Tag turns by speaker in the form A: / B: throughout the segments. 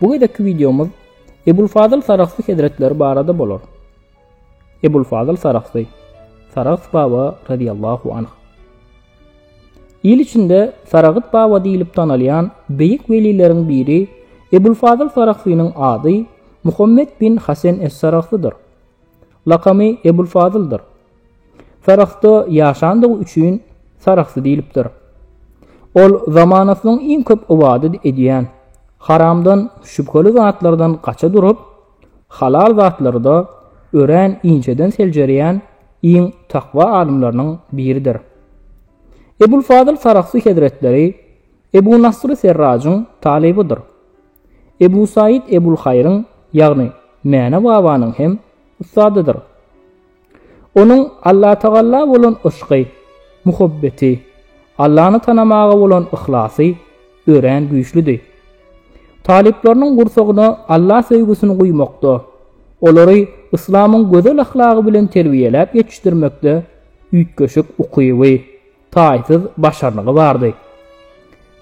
A: Bu gezekki wideomyz Ebulfazyl Sarahsy hezretleri barada bolar. Ebulfazyl Sarahsy, Sarahs baba radiyallahu anh. Il içinde Saragyt baba diýlip tanalýan beýik welileriň biri Ebulfazyl Sarahsynyň ady Muhammet bin Hasen es-Sarahsydyr. Lakamy Ebulfazyldyr. Sarahsda ýaşandygy üçin Sarahsy diýlipdir. Ol zamanasynyň iň köp ybadat edýän, haramdan, şübheli zatlardan gaça durup, halal zatlarda örän inçeden seljerýän iň takwa adamlarynyň biridir. Ebulfazyl Sarahsy hezretleri Ebu Nasry Serrajyň talybydyr. Ebu Saýid Ebulhaýryň, ýagny Mäne babanyň hem ussadydyr. Onuň Allatagalla bolan yşky, muhabbeti, Allany tanamaga bolan yhlasy örän güýçlüdi. Talyplarynyň gursagyna Alla söýgüsini guýmakda, olary yslamyň gözel ahlagy bilen terbiýeläp ýetişdirmekde üýtgeşik ukyby, taýsyz başarnygy bardy.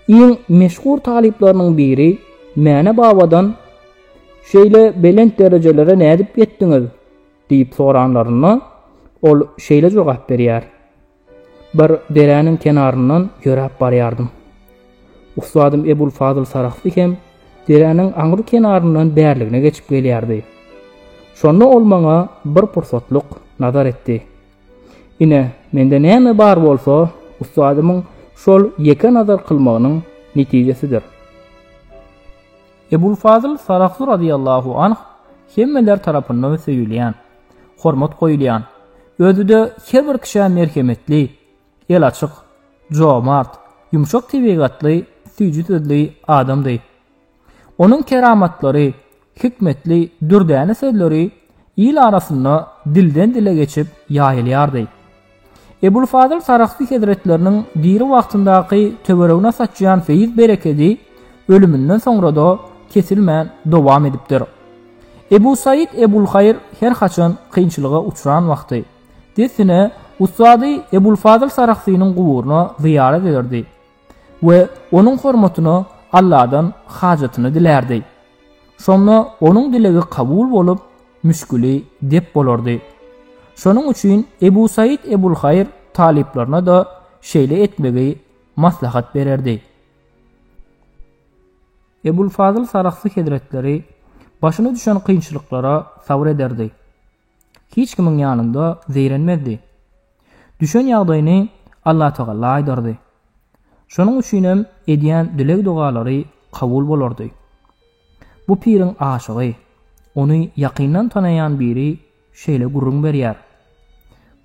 A: Iň meşhur talyplarynyň biri Mäne babadan Şeýle belent derejelere nädip ýetdiňiz? Diýip soranlarynda, ol şeýle jogap berýär, Bir deräniň kenaryndan ýöräp barýardym. Ussadym Ebul Fazyl Sarahsy hem deräniň aňry kenaryndan bärligine geçip gelýärdi. Şonda ol maňa bir pursatlyk nazar etdi. Ine, mende näme bar bolsa, ussadymyň şol ýeke nazar kylmagynyň netijesidir. Ebul Fazyl Sarahsy razyýallahu anh hemmeler tarapyndan söýülýän, hormat goýulýan, özi-de her bir kişä merhemetli, el açyk, jomart, ýumşak tebigatly, süýji sözli adamdy. Onuň keramatlary, hikmetli, dürdäne sözleri il arasynda dilden-dile geçip ýaýylýardy. Ebulfazyl Sarahsy hezretleriniň diri wagtyndaky töweregine saçýan feýz-berekedi ölüminden soňra-da kesilmän dowam edipdir. Ebu Saýid Ebulhaýr her haçan kynçylyga uçran wagty, dessine ussady Ebulfazyl Sarahsynyň guburyna zyýarat ederdi. we onuň hormatyna Alladan hajatyny dilärdi. Şonda onuň dilegi kabul bolup, müşgili dep bolardy. Şonuň üçin Ebu Said Ebulhaýr talyplaryna-da şeýle etmegi maslahat bererdi. Ebul Fazyl Sarahsy hezretleri başyna düşen kynçylyklara sabyr ederdi. hiç kimiň ýanynda zeýrenmezdi. Düşen ýagdaýyny Allatagala aýdardy. Şonuň üçinem edýän dileg-dogalary kabul bolardy. Bu piriň aşygy, ony ýakyndan tanaýan biri şeýle gürrüň berýär.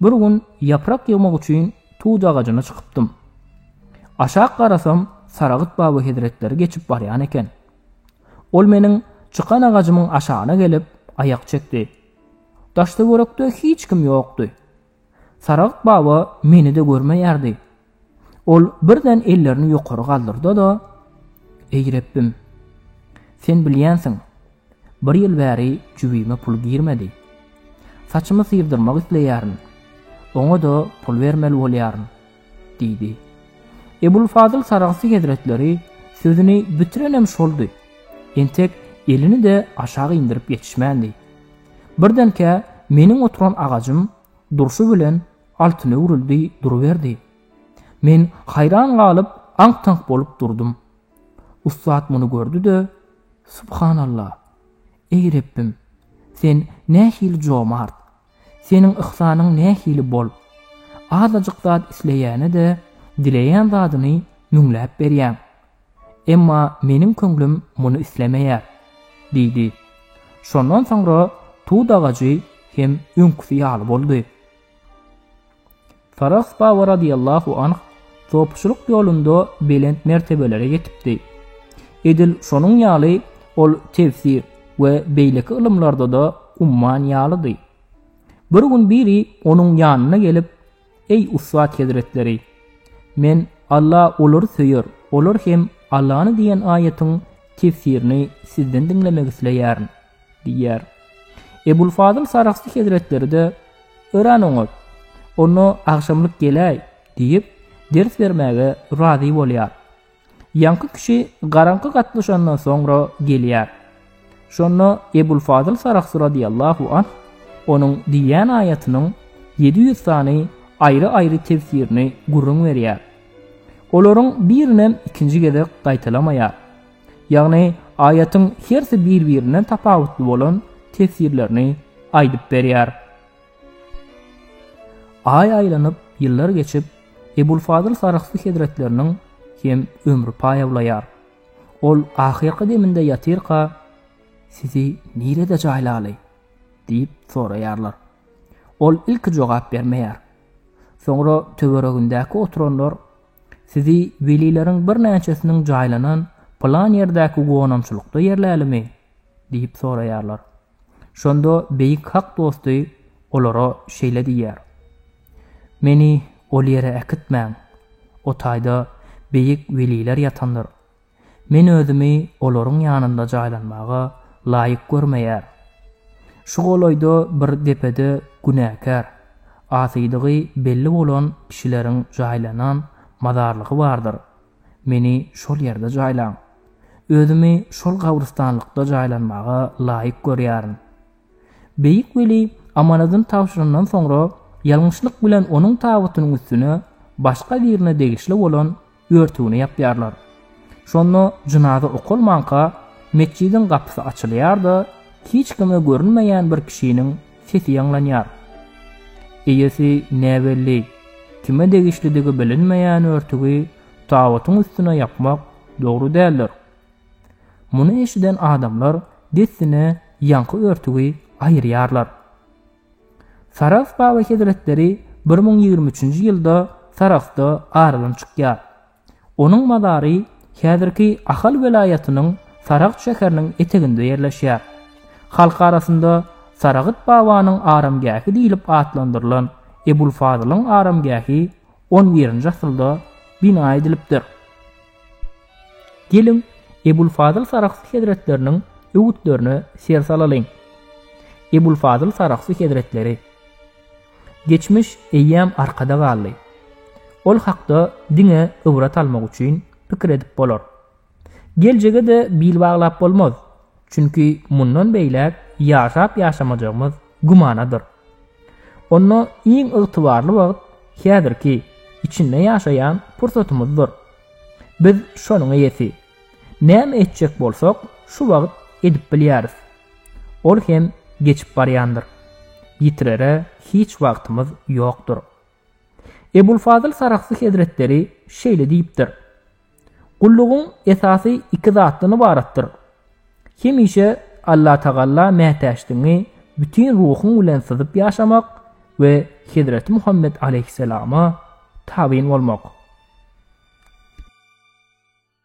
A: Bir gün ýaprak ýygmak üçin tut agajyna çykypdym. Aşak garasam Saragyt baba hezretleri geçip barýan eken. Ol meniň çykan agajymyň aşagyna gelip, aýak çekdi. Daş-töwerekde hiç kim ýokdy. Saragyk baba meni-de görmeýärdi. Ol birden ellerini ýokary galdyrdy-da, Eý, Rebbim! Sen bilýänsiň, bir ýyl bäri jübime pul girmedi. Saçymy syrdyrmak isleýärin. Oňa-da pul bermeli bolýaryn. Diýdi. Ebulfazyl Sarahsy hezretleri sözüni bitirenem şoldy. Entek elini-de aşak indirip ýetişmändi. Birdenkä meniň oturan agajym durşy bilen altyna öwrüldi duruberdi. Men haýran galyp, aňk-taňk bolup durdum. Ussat muny gördi-de, Subhanallah! Eý Rebbim, Sen nähili jomart! Seniň yhsanyň nähili bol! Azajyk zat isleýäne-de, dileýän zadyny müňläp berýäň. Emma meniň köňlüm muny islemeýär, diýdi. Şondan soňra tut agajy hem öňküsi ýaly boldy. Farah baba radiyallahu anh sopçylyk ýolunda belent mertebelere ýetipdi. Edil şonuň ýaly ol tefsir we beýleki ylymlarda-da umman ýalydy. Bir gün biri onuň ýanyna gelip, Eý ussat hezretleri! Men Alla olary söýer, olar hem Allany diýen aýatyň tefsirini sizden diňlemek isleýärin. diýýär. Ebul Fazyl Sarahsy hezretleri-de, Öran oňat, onda agşamlyk geläý, diýip, ders bermäge razy bolýar. Ýaňky kişi garaňky gatlyşandan soňra gelýär. Şonda Ebul Fazyl Sarahsy radiyallahu anh onuň diýýän aýatynyň ýedi ýüz sany aýry-aýry tefsirini gürrüň berýär. Olaryň birinem ikinji gezek gaýtalamaýar. Ýagny aýatyň hersi bir-birinden tapawutly bolan teswirlerini aýdyp berýär. Aý aýlanyp, ýyllar geçip, Ebulfazyl Sarahsy hezretleriniň hem ömri paýawlaýar. Ol ahyrky deminde ýatyrka, Sizi nirede jaýlaly? diýip soraýarlar. Ol ilki jogap bermeýär. Soňra töweregindäki oturanlar Sizi welileriň birnäçesiniň jaýlanan pylan ýerdäki gonamçylykda ýerlälimi? diýip soraýarlar. Şonda beýik Hak dosty olara şeýle diýýär, Meni ol ýere äkitmäň. O taýda beýik weliler ýatandyr. Men özümi olaryň ýanynda jaýlanmaga laýyk görmeýär. Şu golaýda bir depede günäkär, asydygy belli bolan kişileriň jaýlanan mazarlygy bardyr. Meni şol ýerde jaýlaň. Özümi şol gabrystanlykda jaýlanmaga laýyk görýärin. Beýik weli amanadyny tabşyrandan soňra, ýalňyşlyk bilen onuň tabytynyň üstüne başga birine degişli bolan örtügini ýapýarlar. Şonda jynaza okalmanka, metjidiň gapysy açylýar-da, hiç kime görünmeýän bir kişiniň sesi ýaňlanýar. Eýesi näbelli, kime degişlidigi bilinmeýän örtügi tabytyň üstüne ýapmak dogry däldir, Muny eşiden adamlar dessine ýaňky örtügi aýyrýarlar. Sarahs baba hezretleri bir müň ýigrimi üçünji ýylda Sarahsda aradan çykýar. Onuň mazary häzirki Ahal welaýatynyň Sarahs şäheriniň eteginde ýerleşýär. Halk arasynda Saragyt babanyň aramgähi diýlip atlandyrylan Ebulfazylyň aramgähi on birinji asyrda bina edilipdir. Geliň, Ebulfazyl Saragsy hezretleriniň öwütlerine ser salalyň. Ebulfazyl Saragsy hezretleri. Geçmiş eýýäm arkada galdy. Ol hakda diňe ybrat almak üçin pikir edip bolar. Geljege-de bil baglap bolmaz. Çünki mundan beýläk ýaşap-ýaşamajagymyz gümanadyr. Onda iň ygtybarly wagt häzirki, içinde ýaşaýan pursatymyzdyr. Biz şonuň eýesi. Näme etjek bolsak, şu wagt edip bilýäris. Ol hem geçip barýandyr. Ýitirere hiç wagtymyz ýokdur. Ebulfazyl Sarahsy hezretleri şeýle diýipdir, Gullugyň esasy iki zatdan ybaratdyr, hemişe Allatagala mätäçdigiňi bütin ruhuň bilen syzyp ýaşamak we Hezreti Muhammet alaýhyssalama tabyn bolmak.